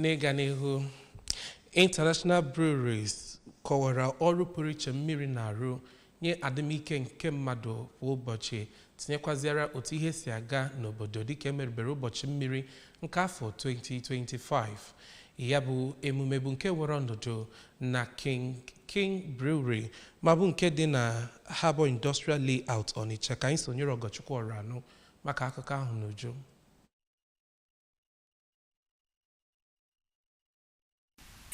n'ịga n'ihu international breweries kọwara ọrụ pụrụ iche mmiri na-arụ nye adịmike nke mmadụ kwa ụbọchị tinyekwazịara otu ihe si aga n'obodo dịka emerubere ụbọchị mmiri nke afọ 2025 ya bụ emume bụ nke were ọnọdụ na king king brewery ma bụ nke dị na harbour industrial layout ọnịcha ka anyị sonyere ọgọchukwu ọranụ maka akụkọ ahụ n'uju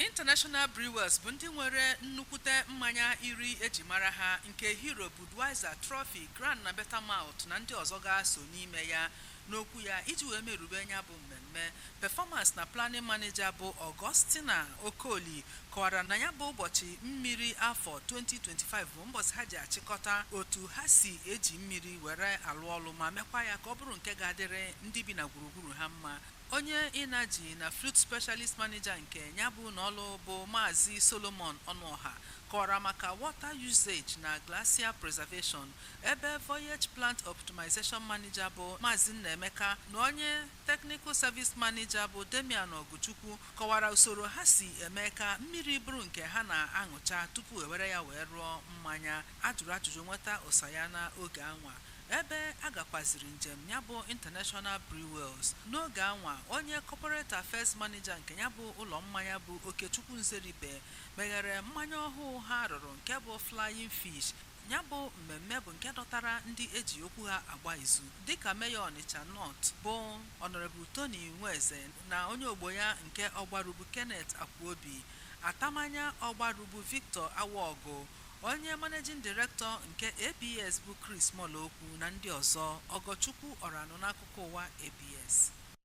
International Brewers bụ ndị nwere nnukwute mmanya iri eji mara ha nke Hero, Budweiser, Trophy, Grand na Beta Malt na ndị ọzọ ga-aso n'ime ya. N'okwu ya iji wee merube nya bụ mmemme, Performance na Planning Manager bụ Augustina Okoli kọwara na nya bụ ụbọchị mmiri afọ 2025 bụ mbọchị ha ji achịkọta otu ha si eji mmiri were alụ ọlụ ma mekwa ya ka ọ bụrụ nke ga-adịrị ndị bi na gburugburu buru ha mma. Onye Energy na Fluid Specialist Manager nke nya bụ ụnọ ọlụ bụ Maazị Solomon Ọnụọha kọwara maka Water Usage na Glacier Preservation, ebe Voyage Plant Optimization Manager bụ Maazị Nnaemeka na onye Technical Service Manager bụ Damian Ọgụchukwu kọwara usoro ha si eme ka mmiri bụrụ nke ha na-aṅụcha tupu ewere ya wee rụọ mmanya. A jụrụ ajụjụ nweta ụsa ya n'oge anwa ebe a gakwaziri njem nya bụ International Brewers. N'oge anwa, onye Corporate Affairs Manager nke nya bụ ụlọ mmanya bụ Okechukwu Nzeribe meghere mmanya ọhụụ ha rụrụ nke bụ Flying Fish. Nya bụ mmemme bụ nke dọtara ndị eji okwu ha agba izu dịka Mayor Ọnịcha North bụ Honourable Tony Nweze na onye ogbo ya nke Ọgbaru bụ Kenneth Akwuobi, Atamanya Ọgbaru bụ Victor Awogu, Onye Managing Director nke ABS bụ Chris Molokwu na ndị ọzọ, Ọgọchukwu Ọranụ n'akụkọ ụwa ABS.